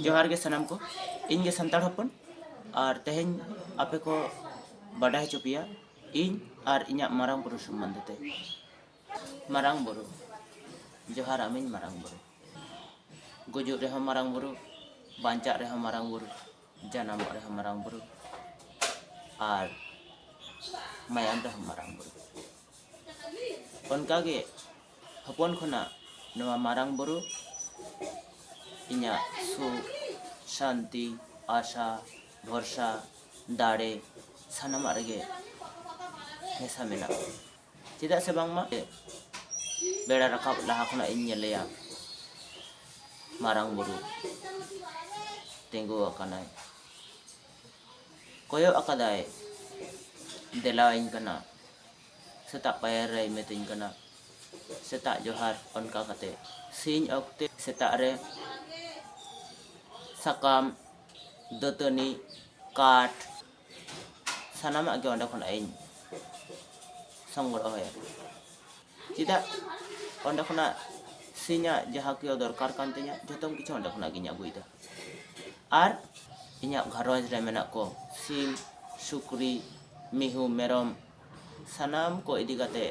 ᱡᱚᱦᱟᱨ ᱜᱮ ᱥᱟᱱᱟᱢ ᱠᱚ ᱤᱧ ᱜᱮ ᱥᱟᱱᱛᱟᱲ ᱦᱚᱯᱚᱱ ᱟᱨ ᱛᱮᱦᱮᱧ ᱟᱯᱮ ᱠᱚ ᱵᱟᱰᱟᱭ ᱦᱚᱪᱚ ᱯᱮᱭᱟ ᱤᱧ ᱟᱨ ᱤᱧᱟᱹᱜ ᱢᱟᱨᱟᱝ ᱵᱩᱨᱩ ᱥᱚᱢᱵᱚᱱᱫᱷᱮ ᱛᱮ ᱢᱟᱨᱟᱝ ᱵᱩᱨᱩ ᱡᱚᱦᱟᱨ ᱟᱢᱤᱧ ᱢᱟᱨᱟᱝ ᱵᱩᱨᱩ ᱜᱩᱡᱩᱜ ᱨᱮᱦᱚᱸ ᱢᱟᱨᱟᱝ ᱵᱩᱨᱩ ᱵᱟᱧᱪᱟᱜ ᱨᱮᱦᱚᱸ ᱢᱟᱨᱟᱝ ᱵᱩᱨᱩ ᱡᱟᱱᱟᱢᱚᱜ ᱨᱮᱦᱚᱸ ᱢᱟᱨᱟᱝ ᱵᱩᱨᱩ ᱟᱨ ᱢᱟᱭᱟᱢ ᱨᱮᱦᱚᱸ ᱢᱟᱨᱟᱝ ᱵᱩᱨᱩ ᱚᱱᱠᱟ ᱜᱮ ᱦᱚᱯᱚᱱ ᱠᱷᱚᱱᱟᱜ ᱱᱚᱣᱟ ᱢᱟᱨᱟᱝ ᱵᱩᱨᱩ ᱤᱧᱟᱹᱜ ᱥᱩᱠ ᱥᱟᱱᱛᱤ ᱟᱥᱟ ᱵᱷᱚᱨᱥᱟ ᱫᱟᱲᱮ ᱥᱟᱱᱟᱢᱟᱜ ᱨᱮᱜᱮ ᱢᱮᱥᱟ ᱢᱮᱱᱟᱜᱼᱟ ᱪᱮᱫᱟᱜ ᱥᱮ ᱵᱟᱝᱢᱟ ᱵᱮᱲᱟ ᱨᱟᱠᱟᱵ ᱞᱟᱦᱟ ᱠᱷᱚᱱᱟᱜ ᱤᱧ ᱧᱮᱞᱮᱭᱟ ᱢᱟᱨᱟᱝ ᱵᱩᱨᱩ ᱛᱤᱸᱜᱩ ᱟᱠᱟᱱᱟᱭ ᱠᱚᱭᱚᱜ ᱟᱠᱟᱫᱟᱭ ᱫᱮᱞᱟ ᱟᱹᱧ ᱠᱟᱱᱟ ᱥᱮᱛᱟᱜ ᱯᱟᱭᱟᱨ ᱨᱮᱭ ᱢᱮᱛᱟᱹᱧ ᱠᱟᱱᱟ ᱥᱮᱛᱟᱜ ᱡᱚᱦᱟᱨ ᱚᱱᱠᱟ ᱠᱟᱛᱮ ᱥᱤᱧ ᱚᱠᱛᱮ ᱥᱮᱛᱟᱜ ᱨᱮ ᱥᱟᱠᱟᱢ ᱫᱟᱹᱛᱟᱹᱱᱤ ᱠᱟᱴ ᱥᱟᱱᱟᱢᱟᱜ ᱜᱮ ᱚᱸᱰᱮ ᱠᱷᱚᱱᱟᱜ ᱤᱧ ᱥᱚᱝᱜᱨᱚᱦᱚᱭᱟ ᱪᱮᱫᱟᱜ ᱚᱸᱰᱮ ᱠᱷᱚᱱᱟᱜ ᱥᱤᱧᱟᱜ ᱡᱟᱦᱟᱸ ᱠᱚ ᱫᱚᱨᱠᱟᱨ ᱠᱟᱱ ᱛᱤᱧᱟᱹ ᱡᱚᱛᱚᱢ ᱠᱤᱪᱷᱩ ᱚᱸᱰᱮ ᱠᱷᱚᱱᱟᱜ ᱜᱤᱧ ᱟᱹᱜᱩᱭᱮᱫᱟ ᱟᱨ ᱤᱧᱟᱹᱜ ᱜᱷᱟᱨᱚᱸᱡᱽ ᱨᱮ ᱢᱮᱱᱟᱜ ᱠᱚ ᱥᱤᱢ ᱥᱩᱠᱨᱤ ᱢᱤᱦᱩ ᱢᱮᱨᱚᱢ ᱥᱟᱱᱟᱢ ᱠᱚ ᱤᱫᱤ ᱠᱟᱛᱮ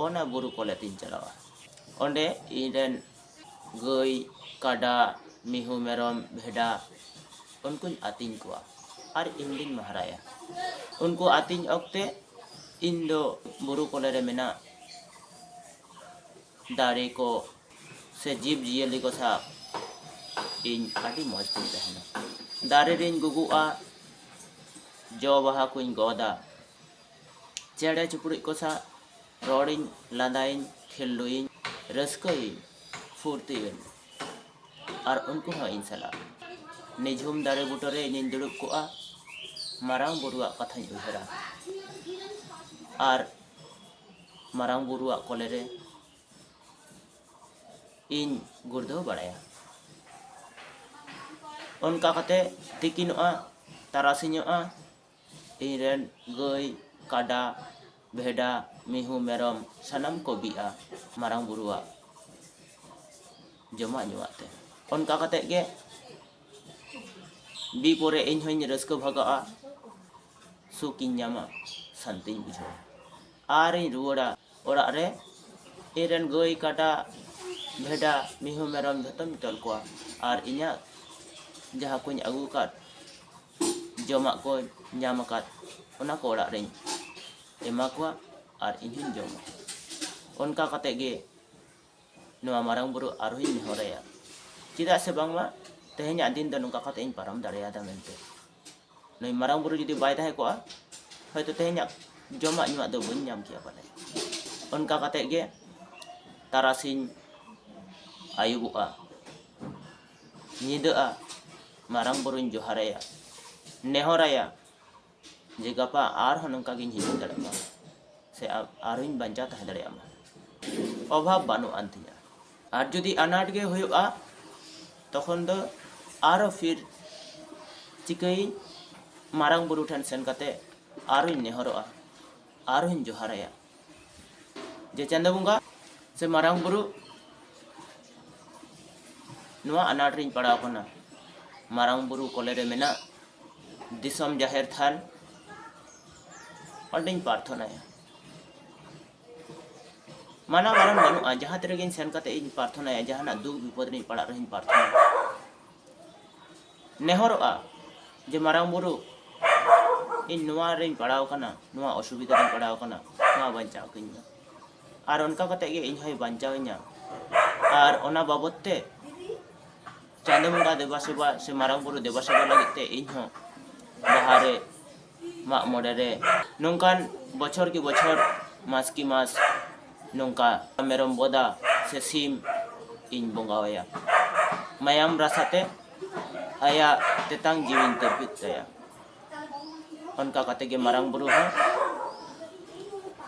ᱚᱱᱟ ᱵᱩᱨᱩ ᱠᱚᱞᱮ ᱛᱮᱧ ᱪᱟᱞᱟᱜᱼᱟ ᱚᱸᱰᱮ ᱤᱧ ᱨᱮᱱ ᱜᱟᱹᱭ ᱠᱟᱰᱟ ᱢᱤᱦᱩ ᱢᱮᱨᱚᱢ ᱵᱷᱮᱰᱟ ᱩᱱᱠᱩᱧ ᱟᱹᱛᱤᱧ ᱠᱚᱣᱟ ᱟᱨ ᱤᱧ ᱜᱤᱧ ᱢᱟᱦᱨᱟᱭᱟ ᱩᱱᱠᱩ ᱟᱹᱛᱤᱧ ᱚᱠᱛᱮ ᱤᱧ ᱫᱚ ᱵᱩᱨᱩ ᱠᱚᱞᱮ ᱨᱮ ᱢᱮᱱᱟᱜ ᱫᱟᱨᱮ ᱠᱚ ᱥᱮ ᱡᱤᱵᱽ ᱡᱤᱭᱟᱹᱞᱤ ᱠᱚ ᱥᱟᱶ ᱤᱧ ᱟᱹᱰᱤ ᱢᱚᱡᱽ ᱛᱤᱧ ᱛᱟᱦᱮᱱᱟ ᱫᱟᱨᱮ ᱨᱤᱧ ᱜᱩᱜᱩᱜᱼᱟ ᱡᱚ ᱵᱟᱦᱟ ᱠᱚᱧ ᱜᱚᱫᱟ ᱪᱮᱬᱮ ᱪᱤᱯᱨᱩᱫ ᱠᱚ ᱥᱟᱶ ᱨᱚᱲ ᱤᱧ ᱞᱟᱸᱫᱟ ᱤᱧ ᱠᱷᱮᱞᱰᱩ ᱤᱧ ᱨᱟᱹᱥᱠᱟᱹ ᱤᱧ ᱯᱷᱩᱨᱛᱤ ᱤᱧ ᱟᱨ ᱩᱱᱠᱩ ᱦᱚᱸ ᱤᱧ ᱥᱟᱞᱟᱜ ᱱᱤᱡᱷᱩᱢ ᱫᱟᱨᱮ ᱵᱩᱴᱟᱹ ᱨᱮ ᱤᱧᱤᱧ ᱫᱩᱲᱩᱵ ᱠᱚᱜᱼᱟ ᱢᱟᱨᱟᱝ ᱵᱩᱨᱩᱣᱟᱜ ᱠᱟᱛᱷᱟᱧ ᱩᱭᱦᱟᱹᱨᱟ ᱟᱨ ᱢᱟᱨᱟᱝ ᱵᱩᱨᱩᱣᱟᱜ ᱠᱚᱞᱮ ᱨᱮ ᱤᱧ ᱜᱩᱲᱫᱟᱹᱣ ᱵᱟᱲᱟᱭᱟ ᱚᱱᱠᱟ ᱠᱟᱛᱮ ᱛᱤᱠᱤᱱᱚᱜᱼᱟ ᱛᱟᱨᱟᱥᱤᱧᱚᱜᱼᱟ ᱤᱧ ᱨᱮᱱ ᱜᱟᱹᱭ ᱠᱟᱰᱟ ᱵᱷᱮᱰᱟ ᱢᱤᱦᱩ ᱢᱮᱨᱚᱢ ᱥᱟᱱᱟᱢ ᱠᱚ ᱵᱤᱜᱼᱟ ᱢᱟᱨᱟᱝ ᱵᱩᱨᱩᱣᱟᱜ ᱡᱚᱢᱟᱜ ᱧᱩᱣᱟᱜ ᱛᱮ ᱚᱱᱠᱟ ᱠᱟᱛᱮ ᱜᱮ ᱵᱤ ᱯᱚᱨᱮ ᱤᱧ ᱦᱚᱸᱧ ᱨᱟᱹᱥᱠᱟᱹ ᱵᱷᱟᱜᱟᱜᱼᱟ ᱥᱩᱠ ᱤᱧ ᱧᱟᱢᱟ ᱥᱟᱱᱛᱤᱧ ᱵᱩᱡᱷᱟᱹᱣᱟ ᱟᱨᱤᱧ ᱨᱩᱣᱟᱹᱲᱟ ᱚᱲᱟᱜ ᱨᱮ ᱤᱧ ᱨᱮᱱ ᱜᱟᱹᱭ ᱠᱟᱰᱟ ᱵᱷᱮᱰᱟ ᱢᱤᱦᱩ ᱢᱮᱨᱚᱢ ᱡᱚᱛᱚᱧ ᱛᱚᱞ ᱠᱚᱣᱟ ᱟᱨ ᱤᱧᱟᱹᱜ ᱡᱟᱦᱟᱸ ᱠᱚᱧ ᱟᱹᱜᱩ ᱟᱠᱟᱫ ᱡᱚᱢᱟᱜ ᱠᱚ ᱧᱟᱢ ᱟᱠᱟᱫ ᱚᱱᱟ ᱠᱚ ᱚᱲᱟᱜ ᱨᱮᱧ ᱮᱢᱟ ᱠᱚᱣᱟ ᱟᱨ ᱤᱧ ᱦᱚᱸᱧ ᱡᱚᱢᱟ ᱚᱱᱠᱟ ᱠᱟᱛᱮ ᱜᱮ ᱱᱚᱣᱟ ᱢᱟᱨᱟᱝ ᱵᱩᱨᱩ ᱟᱨ ᱦᱚᱸᱧ ᱱᱮᱦᱚᱨ ᱟᱭᱟ ᱪᱮᱫᱟᱜ ᱥᱮ ᱵᱟᱝᱢᱟ ᱛᱮᱦᱮᱧᱟᱜ ᱫᱤᱱ ᱫᱚ ᱱᱚᱝᱠᱟ ᱠᱟᱛᱮ ᱤᱧ ᱯᱟᱨᱚᱢ ᱫᱟᱲᱮᱭᱟᱫᱟ ᱢᱮᱱᱛᱮ ᱱᱩᱭ ᱢᱟᱨᱟᱝ ᱵᱩᱨᱩ ᱡᱩᱫᱤ ᱵᱟᱭ ᱛᱟᱦᱮᱸ ᱠᱚᱜᱼᱟ ᱦᱚᱭᱛᱚ ᱛᱮᱦᱮᱧᱟᱜ ᱡᱚᱢᱟᱜ ᱧᱩᱣᱟᱜ ᱫᱚ ᱵᱟᱹᱧ ᱧᱟᱢ ᱠᱮᱭᱟ ᱯᱟᱞᱮ ᱚᱱᱠᱟ ᱠᱟᱛᱮ ᱜᱮ ᱛᱟᱨᱟᱥᱤᱧ ᱟᱹᱭᱩᱵᱚᱜᱼᱟ ᱧᱤᱫᱟᱹᱜᱼᱟ ᱢᱟᱨᱟᱝ ᱵᱩᱨᱩᱧ ᱡᱚᱦᱟᱨ ᱟᱭᱟ ᱱᱮᱦᱚᱨ ᱟᱭᱟ ᱡᱮ ᱜᱟᱯᱟ ᱟᱨᱦᱚᱸ ᱱᱚᱝᱠᱟ ᱜᱤᱧ ᱦᱤᱡᱩᱜ ᱫᱟᱲᱮᱭᱟᱜ ᱢᱟ ᱥᱮ ᱟᱨᱦᱚᱸᱧ ᱵᱟᱧᱪᱟᱣ ᱛᱟᱦᱮᱸ ᱫᱟᱲᱮᱭᱟᱜ ᱢᱟ ᱚᱵᱷᱟᱵ ᱵᱟᱹᱱᱩᱜ ᱟᱱ ᱛᱤᱧᱟ ᱟᱨ ᱡᱩᱫᱤ ᱟᱱᱟᱴ ᱜᱮ ᱦᱩᱭᱩᱜᱼᱟ ᱛᱚᱠᱷᱚᱱ ᱫᱚ ᱟᱨᱦᱚᱸ ᱯᱷᱤᱨ ᱪᱤᱠᱟᱹᱭᱟᱹᱧ ᱢᱟᱨᱟᱝ ᱵᱩᱨᱩ ᱴᱷᱮᱱ ᱥᱮᱱ ᱠᱟᱛᱮ ᱟᱨᱦᱚᱸᱧ ᱱᱮᱦᱚᱨᱚᱜᱼᱟ ᱟᱨᱦᱚᱸᱧ ᱡᱚᱦᱟᱨ ᱟᱭᱟ ᱡᱮ ᱪᱟᱸᱫᱚ ᱵᱚᱸᱜᱟ ᱥᱮ ᱢᱟᱨᱟᱝ ᱵᱩᱨᱩ ᱱᱚᱣᱟ ᱟᱱᱟᱴ ᱨᱤᱧ ᱯᱟᱲᱟᱣ ᱠᱟᱱᱟ ᱢᱟᱨᱟᱝ ᱵᱩᱨᱩ ᱠᱚᱞᱮ ᱨᱮ ᱢᱮᱱᱟᱜ ᱫᱤᱥᱚᱢ ᱡᱟᱦᱮᱨ ᱛᱷᱟᱱ ᱚᱸᱰᱮᱧ ᱯᱨᱟᱨᱛᱷᱚᱱᱟᱭᱟ ᱢᱟᱱᱟ ᱵᱟᱨᱚᱱ ᱵᱟᱹᱱᱩᱜᱼᱟ ᱡᱟᱦᱟᱸ ᱛᱤᱨᱮᱜᱤᱧ ᱥᱮᱱ ᱠᱟᱛᱮ ᱤᱧ ᱯᱨᱟᱨᱛᱷᱚᱱᱟᱭᱟ ᱡᱟᱦᱟᱱᱟᱜ ᱫᱩᱠ ᱵᱤᱯᱚᱫ ᱨᱤᱧ ᱯᱟᱲᱟᱜ ᱨᱮᱦᱚᱸᱧ ᱯᱨᱟᱨᱛᱷᱚᱱᱟᱭᱟ ᱱᱮᱦᱚᱨᱚᱜᱼᱟ ᱡᱮ ᱢᱟᱨᱟᱝ ᱵᱩᱨᱩ ᱤᱧ ᱱᱚᱣᱟ ᱨᱮᱧ ᱯᱟᱲᱟᱣ ᱠᱟᱱᱟ ᱱᱚᱣᱟ ᱚᱥᱩᱵᱤᱫᱷᱟ ᱨᱮᱧ ᱯᱟᱲᱟᱣ ᱠᱟᱱᱟ ᱱᱚᱣᱟ ᱵᱟᱧᱪᱟᱣ ᱠᱟᱹᱧ ᱢᱮ ᱟᱨ ᱚᱱᱠᱟ ᱠᱟᱛᱮ ᱜᱮ ᱤᱧ ᱦᱚᱸᱭ ᱵᱟᱧᱪᱟᱣᱤᱧᱟ ᱟᱨ ᱚᱱᱟ ᱵᱟᱵᱚᱛ ᱛᱮ ᱪᱟᱸᱫᱚ ᱵᱚᱸᱜᱟ ᱫᱮᱵᱟ ᱥᱮᱵᱟ ᱥᱮ ᱢᱟᱨᱟᱝ ᱵᱩᱨᱩ ᱫᱮᱵᱟ ᱥᱮᱵᱟ ᱞᱟᱹᱜᱤᱫ ᱛᱮ ᱤᱧ ᱦᱚᱸ ᱵᱟᱦᱟ ᱨᱮ ᱢᱟᱜ ᱢᱚᱬᱮ ᱨᱮ ᱱᱚᱝᱠᱟᱱ ᱵᱚᱪᱷᱚᱨ ᱠᱤ ᱵᱚᱪᱷᱚᱨ ᱢᱟᱥ ᱠᱤ ᱢᱟᱥ ᱱᱚᱝᱠᱟ ᱢᱮᱨᱚᱢ ᱵᱚᱫᱟ ᱥᱮ ᱥᱤᱢ ᱤᱧ ᱵᱚᱸᱜᱟ ᱟᱭᱟ ᱢᱟᱭᱟᱢ ᱨᱟᱥᱟ ᱛᱮ ᱟᱭᱟᱜ ᱛᱮᱛᱟᱝ ᱡᱤᱣᱤᱧ ᱛᱤᱨᱯᱤᱫ ᱛᱟᱭᱟ ᱚᱱᱠᱟ ᱠᱟᱛᱮ ᱜᱮ ᱢᱟᱨᱟᱝ ᱵᱩᱨᱩ ᱦᱚᱸ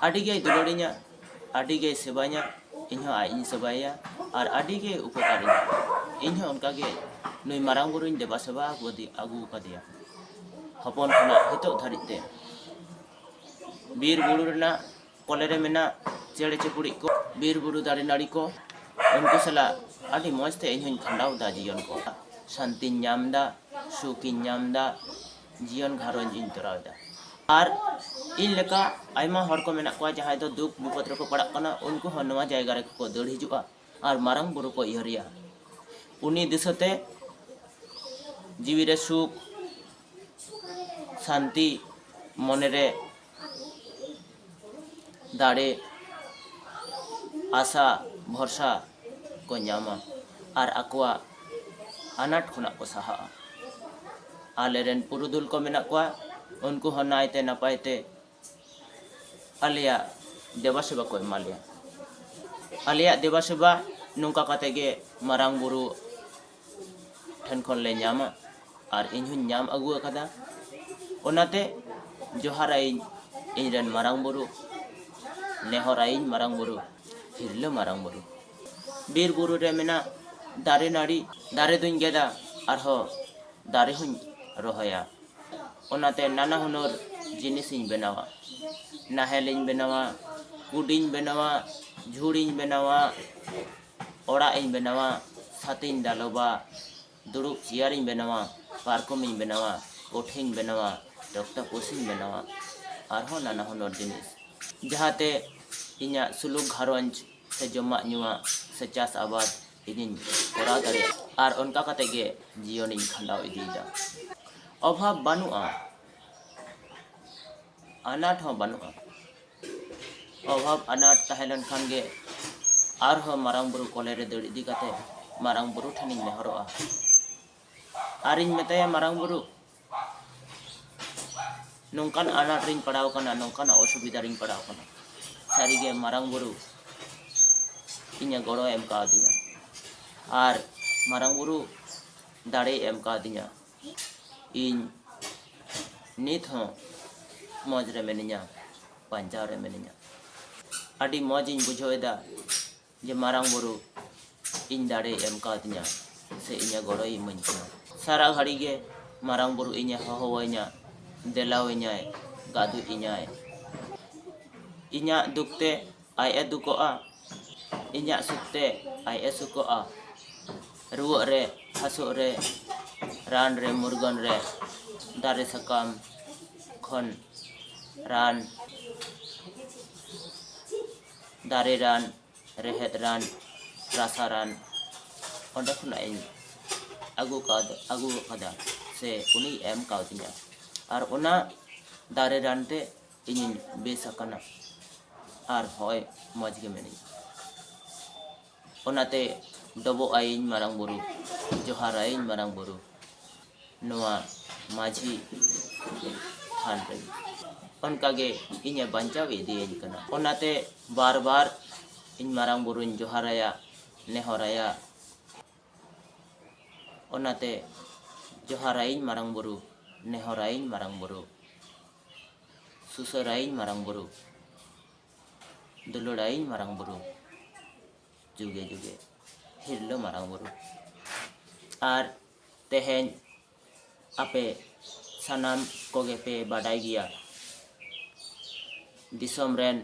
ᱟᱹᱰᱤ ᱜᱮᱭ ᱫᱩᱞᱟᱹᱲᱤᱧᱟ ᱟᱹᱰᱤ ᱜᱮᱭ ᱥᱮᱵᱟᱧᱟ ᱤᱧ ᱦᱚᱸ ᱟᱡ ᱤᱧ ᱥᱮᱵᱟᱭᱮᱭᱟ ᱟᱨ ᱟᱹᱰᱤ ᱜᱮᱭ ᱩᱯᱚᱠᱟᱨᱤᱧᱟ ᱤᱧ ᱦᱚᱸ ᱚᱱᱠᱟ ᱜᱮ ᱱᱩᱭ ᱢᱟᱨᱟᱝ ᱵᱩᱨᱩᱧ ᱫᱮᱵᱟ ᱥᱮᱵᱟ ᱟᱹᱜᱩ ᱟᱠᱟᱫᱮᱭᱟ ᱦᱚᱯᱚᱱ ᱠᱷᱚᱱᱟᱜ ᱱᱤᱛᱚᱜ ᱫᱷᱟᱹᱨᱤᱡ ᱛᱮ ᱵᱤᱨ ᱵᱩᱨᱩ ᱨᱮᱱᱟᱜ ᱠᱚᱞᱮ ᱨᱮ ᱢᱮᱱᱟᱜ ᱪᱮᱬᱮ ᱪᱤᱯᱲᱩ ᱠᱚ ᱵᱤᱨ ᱵᱩᱨᱩ ᱫᱟᱨᱮ ᱱᱟᱹᱲᱤ ᱠᱚ ᱩᱱᱠᱩ ᱥᱟᱞᱟᱜ ᱟᱹᱰᱤ ᱢᱚᱡᱽ ᱛᱮ ᱤᱧ ᱦᱚᱸᱧ ᱠᱷᱟᱸᱰᱟᱣ ᱮᱫᱟ ᱡᱤᱭᱚᱱ ᱠᱚ ᱥᱟᱱᱛᱤᱧ ᱧᱟᱢ ᱮᱫᱟ ᱥᱩᱠᱤᱧ ᱧᱟᱢ ᱮᱫᱟ ᱡᱤᱭᱚᱱ ᱜᱷᱟᱨᱚᱸᱡᱽ ᱤᱧ ᱛᱚᱨᱟᱣ ᱮᱫᱟ ᱟᱨ ᱤᱧ ᱞᱮᱠᱟ ᱟᱭᱢᱟ ᱦᱚᱲ ᱠᱚ ᱢᱮᱱᱟᱜ ᱠᱚᱣᱟ ᱡᱟᱦᱟᱸᱭ ᱫᱚ ᱫᱩᱠ ᱵᱤᱯᱚᱫ ᱨᱮᱠᱚ ᱯᱟᱲᱟᱜ ᱠᱟᱱᱟ ᱩᱱᱠᱩ ᱦᱚᱸ ᱱᱚᱣᱟ ᱡᱟᱭᱜᱟ ᱨᱮ ᱠᱚ ᱫᱟᱹᱲ ᱦᱤᱡᱩᱜᱼᱟ ᱟᱨ ᱢᱟᱨᱟᱝ ᱵᱩᱨᱩ ᱠᱚ ᱩᱭᱦᱟᱹᱨᱮᱭᱟ ᱩᱱᱤ ᱫᱤᱥᱟᱹ ᱛᱮ ᱡᱤᱣᱤ ᱨᱮ ᱥᱩᱠ ᱥᱟᱱᱛᱤ ᱢᱚᱱᱮ ᱨᱮ ᱫᱟᱲᱮ ᱟᱥᱟ ᱵᱷᱚᱨᱥᱟ ᱠᱚ ᱧᱟᱢᱟ ᱟᱨ ᱟᱠᱚᱣᱟᱜ ᱟᱱᱟᱴ ᱠᱷᱚᱱᱟᱜ ᱠᱚ ᱥᱟᱦᱟᱜᱼᱟ ᱟᱞᱮ ᱨᱮᱱ ᱯᱩᱨᱩᱫᱷᱩᱞ ᱠᱚ ᱢᱮᱱᱟᱜ ᱠᱚᱣᱟ ᱩᱱᱠᱩ ᱦᱚᱸ ᱱᱟᱭᱛᱮ ᱱᱟᱯᱟᱭ ᱛᱮ ᱟᱞᱮᱭᱟᱜ ᱫᱮᱵᱟ ᱥᱮᱵᱟ ᱠᱚ ᱮᱢᱟ ᱞᱮᱭᱟ ᱟᱞᱮᱭᱟᱜ ᱫᱮᱵᱟ ᱥᱮᱵᱟ ᱱᱚᱝᱠᱟ ᱠᱟᱛᱮ ᱜᱮ ᱢᱟᱨᱟᱝ ᱵᱩᱨᱩ ᱴᱷᱮᱱ ᱠᱷᱚᱱ ᱞᱮ ᱧᱟᱢᱟ ᱟᱨ ᱤᱧ ᱦᱚᱸᱧ ᱧᱟᱢ ᱟᱹᱜᱩ ᱟᱠᱟᱫᱟ ᱚᱱᱟᱛᱮ ᱡᱚᱦᱟᱨ ᱟᱭᱤᱧ ᱤᱧ ᱨᱮᱱ ᱢᱟᱨᱟᱝ ᱵᱩᱨᱩ ᱱᱮᱦᱚᱨ ᱟᱭᱤᱧ ᱢᱟᱨᱟᱝ ᱵᱩᱨᱩ ᱦᱤᱨᱞᱟᱹ ᱢᱟᱨᱟᱝ ᱵᱩᱨᱩ ᱵᱤᱨ ᱵᱩᱨᱩ ᱨᱮ ᱢᱮᱱᱟᱜ ᱫᱟᱨᱮ ᱱᱟᱹᱲᱤ ᱫᱟᱨᱮ ᱫᱩᱧ ᱜᱮᱫᱟ ᱟᱨᱦᱚᱸ ᱫᱟᱨᱮ ᱦᱚᱸᱧ ᱨᱚᱦᱚᱭᱟ ᱚᱱᱟᱛᱮ ᱱᱟᱱᱟ ᱦᱩᱱᱟᱹᱨ ᱡᱤᱱᱤᱥᱤᱧ ᱵᱮᱱᱟᱣᱟ ᱱᱟᱦᱮᱞᱤᱧ ᱵᱮᱱᱟᱣᱟ ᱠᱩᱰᱤᱧ ᱵᱮᱱᱟᱣᱟ ᱡᱷᱩᱲᱤᱧ ᱵᱮᱱᱟᱣᱟ ᱚᱲᱟᱜ ᱤᱧ ᱵᱮᱱᱟᱣᱟ ᱪᱷᱟᱛ ᱤᱧ ᱫᱟᱞᱚᱵᱟ ᱫᱩᱲᱩᱵ ᱪᱮᱭᱟᱨ ᱤᱧ ᱵᱮᱱᱟᱣᱟ ᱯᱟᱨᱠᱚᱢ ᱤᱧ ᱵᱮᱱᱟᱣᱟ ᱠᱚᱴᱷᱮᱧ ᱵᱮᱱᱟᱣᱟ ᱴᱚᱠᱴᱟ ᱯᱚᱥᱤᱧ ᱵᱮᱱᱟᱣᱟ ᱟᱨᱦᱚᱸ ᱱᱟᱱᱟ ᱦᱩᱱᱟᱹᱨ ᱡᱤᱱᱤᱥ ᱡᱟᱦᱟᱸᱛᱮ ᱤᱧᱟᱹᱜ ᱥᱩᱞᱩᱠ ᱜᱷᱟᱨᱚᱸᱡᱽ ᱥᱮ ᱡᱚᱢᱟᱜ ᱧᱩᱣᱟᱜ ᱥᱮ ᱪᱟᱥ ᱟᱵᱟᱫᱽ ᱤᱧᱤᱧ ᱠᱚᱨᱟᱣ ᱫᱟᱲᱮᱭᱟᱜ ᱟᱨ ᱚᱱᱠᱟ ᱠᱟᱛᱮᱫ ᱜᱮ ᱡᱤᱭᱚᱱᱤᱧ ᱠᱷᱟᱸᱰᱟᱣ ᱤᱫᱤᱭᱮᱫᱟ ᱚᱵᱷᱟᱵᱽ ᱵᱟᱹᱱᱩᱜᱼᱟ ᱟᱱᱟᱴ ᱦᱚᱸ ᱵᱟᱹᱱᱩᱜᱼᱟ ᱚᱵᱷᱟᱵᱽ ᱟᱱᱟᱴ ᱛᱟᱦᱮᱸ ᱞᱮᱱᱠᱷᱟᱱ ᱜᱮ ᱟᱨᱦᱚᱸ ᱢᱟᱨᱟᱝ ᱵᱩᱨᱩ ᱠᱚᱞᱮ ᱨᱮ ᱫᱟᱹᱲ ᱤᱫᱤ ᱠᱟᱛᱮ ᱢᱟᱨᱟᱝ ᱵᱩᱨᱩ ᱴᱷᱮᱱᱤᱧ ᱱᱮᱦᱚᱨᱚᱜᱼᱟ ᱟᱨᱤᱧ ᱢᱮᱛᱟᱭᱟ ᱢᱟᱨᱟᱝ ᱵᱩᱨᱩ ᱱᱚᱝᱠᱟᱱ ᱟᱱᱟᱴ ᱨᱤᱧ ᱯᱟᱲᱟᱣ ᱠᱟᱱᱟ ᱱᱚᱝᱠᱟᱱᱟᱜ ᱚᱥᱩᱵᱤᱫᱷᱟ ᱨᱤᱧ ᱯᱟᱲᱟᱣ ᱠᱟᱱᱟ ᱥᱟᱹᱨᱤᱜᱮ ᱢᱟᱨᱟᱝ ᱵᱩᱨᱩ ᱤᱧᱮ ᱜᱚᱲᱚ ᱮᱢ ᱠᱟᱣᱫᱤᱧᱟ ᱟᱨ ᱢᱟᱨᱟᱝ ᱵᱩᱨᱩ ᱫᱟᱲᱮᱭ ᱮᱢ ᱠᱟᱣᱫᱤᱧᱟ ᱤᱧ ᱱᱤᱛ ᱦᱚᱸ ᱢᱚᱡᱽ ᱨᱮ ᱢᱤᱱᱟᱹᱧᱟ ᱵᱟᱧᱪᱟᱣ ᱨᱮ ᱢᱤᱱᱟᱹᱧᱟ ᱟᱹᱰᱤ ᱢᱚᱡᱽ ᱤᱧ ᱵᱩᱡᱷᱟᱹᱣ ᱮᱫᱟ ᱡᱮ ᱢᱟᱨᱟᱝ ᱵᱩᱨᱩ ᱤᱧ ᱫᱟᱲᱮ ᱮᱢ ᱠᱟᱣᱫᱤᱧᱟ ᱥᱮ ᱤᱧᱟᱹᱜ ᱜᱚᱲᱚᱭ ᱤᱢᱟᱹᱧ ᱠᱟᱱᱟ ᱥᱟᱨᱟ ᱜᱷᱟᱹᱲᱤ ᱜᱮ ᱢᱟᱨᱟᱝ ᱵᱩᱨᱩ ᱤᱧᱮ ᱦᱚᱦᱚᱣᱟᱹᱧᱟ ᱫᱮᱞᱟᱣᱟᱹᱧᱟᱭ ᱜᱟᱹᱫᱩᱡ ᱤᱧᱟᱭ ᱤᱧᱟᱹᱜ ᱫᱩᱠ ᱛᱮ ᱟᱡ ᱮ ᱫᱩᱠᱚᱜᱼᱟ ᱤᱧᱟᱜ ᱥᱩᱠ ᱛᱮ ᱟᱡ ᱮ ᱥᱩᱠᱚᱜᱼᱟ ᱨᱩᱣᱟᱹᱜ ᱨᱮ ᱦᱟᱹᱥᱩᱜ ᱨᱮ ᱨᱟᱱ ᱨᱮ ᱢᱩᱨᱜᱟᱹᱱ ᱨᱮ ᱫᱟᱨᱮ ᱥᱟᱠᱟᱢ ᱠᱷᱚᱱ ᱨᱟᱱ ᱫᱟᱨᱮ ᱨᱟᱱ ᱨᱮᱦᱮᱫ ᱨᱟᱱ ᱨᱟᱥᱟ ᱨᱟᱱ ᱚᱸᱰᱮ ᱠᱷᱚᱱᱟᱜ ᱤᱧ ᱟᱹᱜᱩ ᱠᱟᱣᱫᱟ ᱟᱹᱜᱩ ᱟᱠᱟᱫᱟ ᱥᱮ ᱩᱱᱤᱭ ᱮᱢ ᱠᱟᱣᱫᱤᱧᱟ ᱟᱨ ᱚᱱᱟ ᱫᱟᱨᱮ ᱨᱟᱱ ᱛᱮ ᱤᱧᱤᱧ ᱵᱮᱥ ᱟᱠᱟᱱᱟ ᱟᱨ ᱦᱚᱸᱜᱼᱚᱭ ᱢᱚᱡᱽ ᱜᱮ ᱢᱤᱱᱟᱹᱧᱟ ᱚᱱᱟᱛᱮ ᱰᱚᱵᱚᱜ ᱟᱭᱤᱧ ᱢᱟᱨᱟᱝ ᱵᱩᱨᱩ ᱡᱚᱦᱟᱨ ᱟᱭᱤᱧ ᱢᱟᱨᱟᱝ ᱵᱩᱨᱩ ᱱᱚᱣᱟ ᱢᱟᱹᱡᱷᱤ ᱛᱷᱟᱱ ᱨᱮ ᱚᱱᱠᱟᱜᱮ ᱤᱧᱮ ᱵᱟᱧᱪᱟᱣ ᱤᱫᱤᱭᱟᱹᱧ ᱠᱟᱱᱟ ᱚᱱᱟᱛᱮ ᱵᱟᱨ ᱵᱟᱨ ᱤᱧ ᱢᱟᱨᱟᱝ ᱵᱩᱨᱩᱧ ᱡᱚᱦᱟᱨᱟᱭᱟ ᱱᱮᱦᱚᱨᱟᱭᱟ ᱚᱱᱟᱛᱮ ᱡᱚᱦᱟᱨᱟᱭᱤᱧ ᱢᱟᱨᱟᱝ ᱵᱩᱨᱩ ᱱᱮᱦᱚᱨᱟᱭᱤᱧ ᱢᱟᱨᱟᱝ ᱵᱩᱨᱩ ᱥᱩᱥᱟᱹᱨᱟᱭᱤᱧ ᱢᱟᱨᱟᱝ ᱵᱩᱨᱩ ᱫᱩᱞᱟᱹᱲᱟᱭᱤᱧ ᱢᱟᱨᱟᱝ ᱵᱩᱨᱩ ᱡᱩᱜᱮ ᱡᱩᱜᱮ ᱦᱤᱨᱞᱟᱹ ᱢᱟᱨᱟᱝ ᱵᱩᱨᱩ ᱟᱨ ᱛᱮᱦᱮᱧ ᱟᱯᱮ ᱥᱟᱱᱟᱢ ᱠᱚᱜᱮ ᱯᱮ ᱵᱟᱰᱟᱭ ᱜᱮᱭᱟ ᱫᱤᱥᱚᱢ ᱨᱮᱱ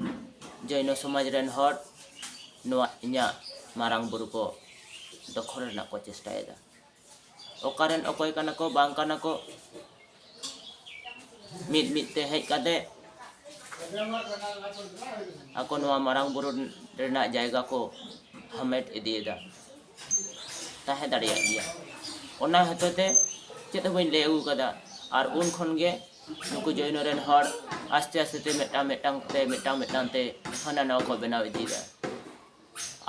ᱡᱚᱭᱱᱚ ᱥᱚᱢᱟᱡᱽ ᱨᱮᱱ ᱦᱚᱲ ᱱᱚᱣᱟ ᱤᱧᱟᱹᱜ ᱢᱟᱨᱟᱝ ᱵᱩᱨᱩ ᱠᱚ ᱫᱚᱠᱷᱚᱞ ᱨᱮᱱᱟᱜ ᱠᱚ ᱪᱮᱥᱴᱟᱭᱮᱫᱟ ᱚᱠᱟᱨᱮᱱ ᱚᱠᱚᱭ ᱠᱟᱱᱟ ᱠᱚ ᱵᱟᱝ ᱠᱟᱱᱟ ᱠᱚ ᱢᱤᱫ ᱢᱤᱫ ᱛᱮ ᱦᱮᱡ ᱠᱟᱛᱮ ᱟᱠᱚ ᱱᱚᱣᱟ ᱢᱟᱨᱟᱝ ᱵᱩᱨᱩ ᱨᱮᱱᱟᱜ ᱡᱟᱭᱜᱟ ᱠᱚ ᱦᱟᱢᱮᱴ ᱤᱫᱤᱭᱮᱫᱟ ᱛᱟᱦᱮᱸ ᱫᱟᱲᱮᱭᱟᱜ ᱜᱮᱭᱟ ᱚᱱᱟ ᱦᱚᱛᱮᱡ ᱛᱮ ᱪᱮᱫ ᱦᱚᱸ ᱵᱟᱹᱧ ᱞᱟᱹᱭ ᱟᱹᱜᱩ ᱟᱠᱟᱫᱟ ᱟᱨ ᱩᱱ ᱠᱷᱚᱱ ᱜᱮ ᱱᱩᱠᱩ ᱡᱚᱭᱱᱚ ᱨᱮᱱ ᱦᱚᱲ ᱟᱥᱛᱮ ᱟᱥᱛᱮ ᱛᱮ ᱢᱤᱫᱴᱟᱝ ᱢᱤᱫᱴᱟᱝ ᱛᱮ ᱢᱤᱫᱴᱟᱝ ᱢᱤᱫᱴᱟᱝ ᱛᱮ ᱦᱟᱱᱟ ᱱᱟᱣᱟ ᱠᱚ ᱵᱮᱱᱟᱣ ᱤᱫᱤᱭᱮᱫᱟ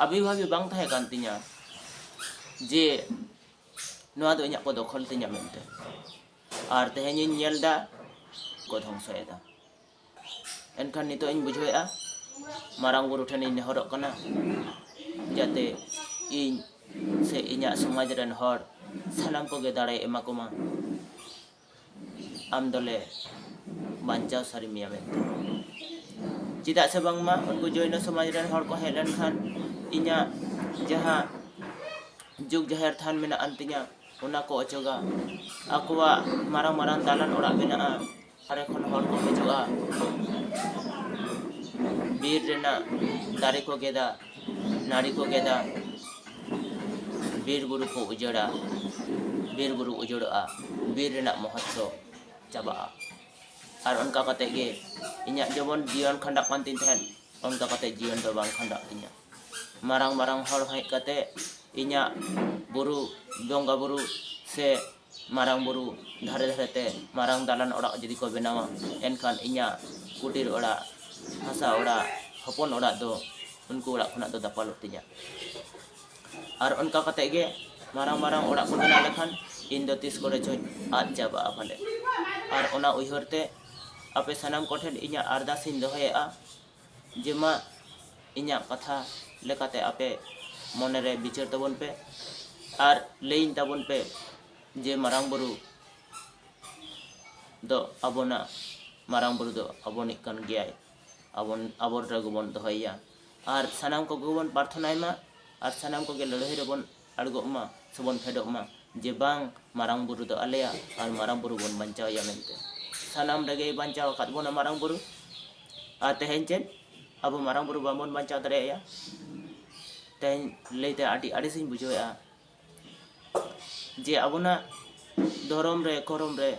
ᱟᱵᱤ ᱵᱷᱟᱵᱤ ᱵᱟᱝ ᱛᱟᱦᱮᱸ ᱠᱟᱱ ᱛᱤᱧᱟ ᱡᱮ ᱱᱚᱣᱟ ᱫᱚ ᱤᱧᱟᱹᱜ ᱠᱚ ᱫᱚᱠᱷᱚᱞ ᱛᱤᱧᱟ ᱢᱮᱱᱛᱮ ᱟᱨ ᱛᱮᱦᱮᱧᱤᱧ ᱧᱮᱞ ᱮᱫᱟ ᱠᱚ ᱫᱷᱚᱝᱥᱚᱭᱮᱫᱟ ᱮᱱᱠᱷᱟᱱ ᱱᱤᱛᱚᱜ ᱤᱧ ᱵᱩᱡᱷᱟᱹᱣᱮᱫᱼᱟ ᱢᱟᱨᱟᱝ ᱵᱩᱨᱩ ᱴᱷᱮᱱᱤᱧ ᱱᱮᱦᱚᱨᱚᱜ ᱠᱟᱱᱟ ᱡᱟᱛᱮ ᱤᱧ ᱥᱮ ᱤᱧᱟᱹᱜ ᱥᱚᱢᱟᱡᱽ ᱨᱮᱱ ᱦᱚᱲ ᱥᱟᱱᱟᱢ ᱠᱚᱜᱮ ᱫᱟᱲᱮᱭ ᱮᱢᱟ ᱠᱚᱢᱟ ᱟᱢ ᱫᱚᱞᱮ ᱵᱟᱧᱪᱟᱣ ᱥᱟᱹᱨᱤ ᱢᱮᱭᱟ ᱢᱮᱱᱛᱮ ᱪᱮᱫᱟᱜ ᱥᱮ ᱵᱟᱝᱢᱟ ᱩᱱᱠᱩ ᱡᱳᱭᱱᱚ ᱥᱚᱢᱟᱡᱽ ᱨᱮᱱ ᱦᱚᱲ ᱠᱚ ᱦᱮᱡ ᱞᱮᱱᱠᱷᱟᱱ ᱤᱧᱟᱹᱜ ᱡᱟᱦᱟᱸ ᱡᱩᱜᱽ ᱡᱟᱦᱮᱨ ᱛᱷᱟᱱ ᱢᱮᱱᱟᱜ ᱟᱱ ᱛᱤᱧᱟᱹ ᱚᱱᱟ ᱠᱚ ᱚᱪᱚᱜᱟ ᱟᱠᱚᱣᱟᱜ ᱢᱟᱨᱟᱝ ᱢᱟᱨᱟᱝ ᱫᱟᱞᱟᱱ ᱚᱲᱟᱜ ᱢᱮᱱᱟᱜᱼᱟ ᱫᱟᱨᱮ ᱠᱷᱚᱱ ᱦᱚᱲ ᱠᱚ ᱦᱤᱡᱩᱜᱼᱟ ᱵᱤᱨ ᱨᱮᱱᱟᱜ ᱫᱟᱨᱮ ᱠᱚ ᱜᱮᱫᱟ ᱱᱟᱹᱲᱤ ᱠᱚ ᱜᱮᱫᱟ ᱵᱤᱨ ᱵᱩᱨᱩ ᱠᱚ ᱩᱡᱟᱹᱲᱟ ᱵᱤᱨ ᱵᱩᱨᱩ ᱩᱡᱟᱹᱲᱚᱜᱼᱟ ᱵᱤᱨ ᱨᱮᱱᱟᱜ ᱢᱚᱦᱚᱛᱛᱚ ᱪᱟᱵᱟᱜᱼᱟ ᱟᱨ ᱚᱱᱠᱟ ᱠᱟᱛᱮ ᱜᱮ ᱤᱧᱟᱹᱜ ᱡᱮᱢᱚᱱ ᱡᱤᱭᱚᱱ ᱠᱷᱟᱸᱰᱟᱜ ᱠᱟᱱ ᱛᱤᱧ ᱛᱟᱦᱮᱸᱫ ᱚᱱᱠᱟ ᱠᱟᱛᱮ ᱡᱤᱭᱚᱱ ᱫᱚ ᱵᱟᱝ ᱠᱷᱟᱸᱰᱟᱜ ᱛᱤᱧᱟᱹ ᱢᱟᱨᱟᱝ ᱢᱟᱨᱟᱝ ᱦᱚᱲ ᱦᱮᱡ ᱠᱟᱛᱮ ᱤᱧᱟᱹᱜ ᱵᱩᱨᱩ ᱵᱚᱸᱜᱟ ᱵᱩᱨᱩ ᱥᱮ ᱢᱟᱨᱟᱝ ᱵᱩᱨᱩ ᱫᱷᱟᱨᱮ ᱫᱷᱟᱨᱮ ᱛᱮ ᱢᱟᱨᱟᱝ ᱫᱟᱞᱟᱱ ᱚᱲᱟᱜ ᱡᱩᱫᱤ ᱠᱚ ᱵᱮᱱᱟᱣᱟ ᱮᱱᱠᱷᱟᱱ ᱤᱧᱟᱹᱜ ᱠᱩᱴᱤᱨ ᱚᱲᱟᱜ ᱦᱟᱥᱟ ᱚᱲᱟᱜ ᱦᱚᱯᱚᱱ ᱚᱲᱟᱜ ᱫᱚ ᱩᱱᱠᱩ ᱚᱲᱟᱜ ᱠᱷᱚᱱᱟᱜ ᱫᱚ ᱫᱟᱯᱟᱞᱚᱜ ᱛᱤᱧᱟᱹ ᱟᱨ ᱚᱱᱠᱟ ᱠᱟᱛᱮᱫ ᱜᱮ ᱢᱟᱨᱟᱝ ᱢᱟᱨᱟᱝ ᱚᱲᱟᱜ ᱠᱚ ᱵᱮᱱᱟᱣ ᱞᱮᱠᱷᱟᱱ ᱤᱧ ᱫᱚ ᱛᱤᱥ ᱠᱚᱨᱮ ᱪᱚᱧ ᱟᱫ ᱪᱟᱵᱟᱜᱼᱟ ᱯᱟᱞᱮᱫ ᱟᱨ ᱚᱱᱟ ᱩᱭᱦᱟᱹᱨ ᱛᱮ ᱟᱯᱮ ᱥᱟᱱᱟᱢ ᱠᱚᱴᱷᱮᱱ ᱤᱧᱟᱹᱜ ᱟᱨᱫᱟᱥ ᱤᱧ ᱫᱚᱦᱚᱭᱮᱫᱼᱟ ᱡᱮ ᱢᱟ ᱤᱧᱟᱜ ᱠᱟᱛᱷᱟ ᱞᱮᱠᱟᱛᱮ ᱟᱯᱮ ᱢᱚᱱᱮ ᱨᱮ ᱵᱤᱪᱟᱹᱨ ᱛᱟᱵᱚᱱ ᱯᱮ ᱟᱨ ᱞᱟᱹᱭᱤᱧ ᱛᱟᱵᱚᱱ ᱯᱮ ᱡᱮ ᱢᱟᱨᱟᱝ ᱵᱩᱨᱩ ᱫᱚ ᱟᱵᱚᱱᱟᱜ ᱢᱟᱨᱟᱝ ᱵᱩᱨᱩ ᱫᱚ ᱟᱵᱚᱱᱤᱡ ᱠᱟᱱ ᱜᱮᱭᱟᱭ ᱟᱵᱚᱱ ᱟᱵᱚᱱ ᱨᱮᱜᱮ ᱵᱚᱱ ᱫᱚᱦᱚᱭᱮᱭᱟ ᱟᱨ ᱥᱟᱱᱟᱢ ᱠᱚᱜᱮ ᱵᱚᱱ ᱯᱟᱨᱛᱷᱚᱱᱟᱭ ᱢᱟ ᱟᱨ ᱥᱟᱱᱟᱢ ᱠᱚᱜᱮ ᱞᱟᱹᱲᱦᱟᱹᱭ ᱨᱮᱵᱚᱱ ᱟᱲᱜᱚᱜ ᱢᱟ ᱥᱮᱵᱚᱱ ᱯᱷᱮᱰᱚᱜ ᱢᱟ ᱡᱮ ᱵᱟᱝ ᱢᱟᱨᱟᱝ ᱵᱩᱨᱩ ᱫᱚ ᱟᱞᱮᱭᱟᱜ ᱟᱨ ᱢᱟᱨᱟᱝ ᱵᱩᱨᱩ ᱵᱚᱱ ᱵᱟᱧᱪᱟᱣᱮᱭᱟ ᱢᱮᱱᱛᱮ ᱥᱟᱱᱟᱢ ᱨᱮᱜᱮᱭ ᱵᱟᱧᱪᱟᱣ ᱟᱠᱟᱫ ᱵᱚᱱᱟ ᱢᱟᱨᱟᱝ ᱵᱩᱨᱩ ᱟᱨ ᱛᱮᱦᱮᱧ ᱪᱮᱫ ᱟᱵᱚ ᱢᱟᱨᱟᱝ ᱵᱩᱨᱩ ᱵᱟᱵᱚᱱ ᱵᱟᱧᱪᱟᱣ ᱫᱟᱲᱮᱭᱟᱭᱟ ᱛᱮᱦᱮᱧ ᱞᱟᱹᱭᱛᱮ ᱟᱹᱰᱤ ᱟᱹᱲᱤᱥᱤᱧ ᱵᱩᱡᱷᱟᱹᱣᱮᱫᱼᱟ ᱡᱮ ᱟᱵᱚᱱᱟᱜ ᱫᱷᱚᱨᱚᱢ ᱨᱮ ᱠᱚᱨᱚᱢ ᱨᱮ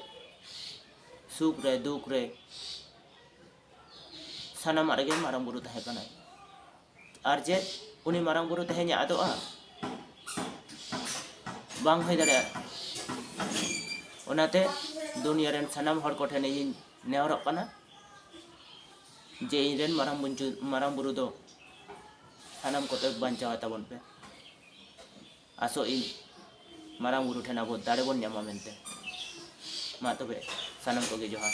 ᱥᱩᱠ ᱨᱮ ᱫᱩᱠ ᱨᱮ ᱥᱟᱱᱟᱢᱟᱜ ᱨᱮᱜᱮ ᱢᱟᱨᱟᱝ ᱵᱩᱨᱩ ᱛᱟᱦᱮᱸ ᱠᱟᱱᱟᱭ ᱟᱨ ᱪᱮᱫ ᱩᱱᱤ ᱢᱟᱨᱟᱝ ᱵᱩᱨᱩ ᱛᱮᱦᱮᱧ ᱟᱫᱚᱜᱼᱟ ᱵᱟᱝ ᱦᱩᱭ ᱫᱟᱲᱮᱭᱟᱜᱼᱟ ᱚᱱᱟᱛᱮ ᱫᱩᱱᱤᱭᱟᱹ ᱨᱮᱱ ᱥᱟᱱᱟᱢ ᱦᱚᱲ ᱠᱚᱴᱷᱮᱱ ᱤᱧ ᱱᱮᱦᱚᱨᱚᱜ ᱠᱟᱱᱟ ᱡᱮ ᱤᱧ ᱨᱮᱱ ᱢᱟᱨᱟᱝ ᱵᱩᱨᱩ ᱢᱟᱨᱟᱝ ᱵᱩᱨᱩ ᱫᱚ ᱥᱟᱱᱟᱢ ᱠᱚᱛᱮ ᱵᱟᱧᱪᱟᱣ ᱛᱟᱵᱚᱱ ᱯᱮ ᱟᱥᱚᱜ ᱤᱧ ᱢᱟᱨᱟᱝ ᱵᱩᱨᱩ ᱴᱷᱮᱱ ᱟᱵᱚ ᱫᱟᱲᱮ ᱵᱚᱱ ᱧᱟᱢᱟ ᱢᱮᱱᱛᱮ ᱢᱟ ᱛᱚᱵᱮ ᱥᱟᱱᱟᱢ ᱠᱚᱜᱮ ᱡᱚᱦᱟᱨ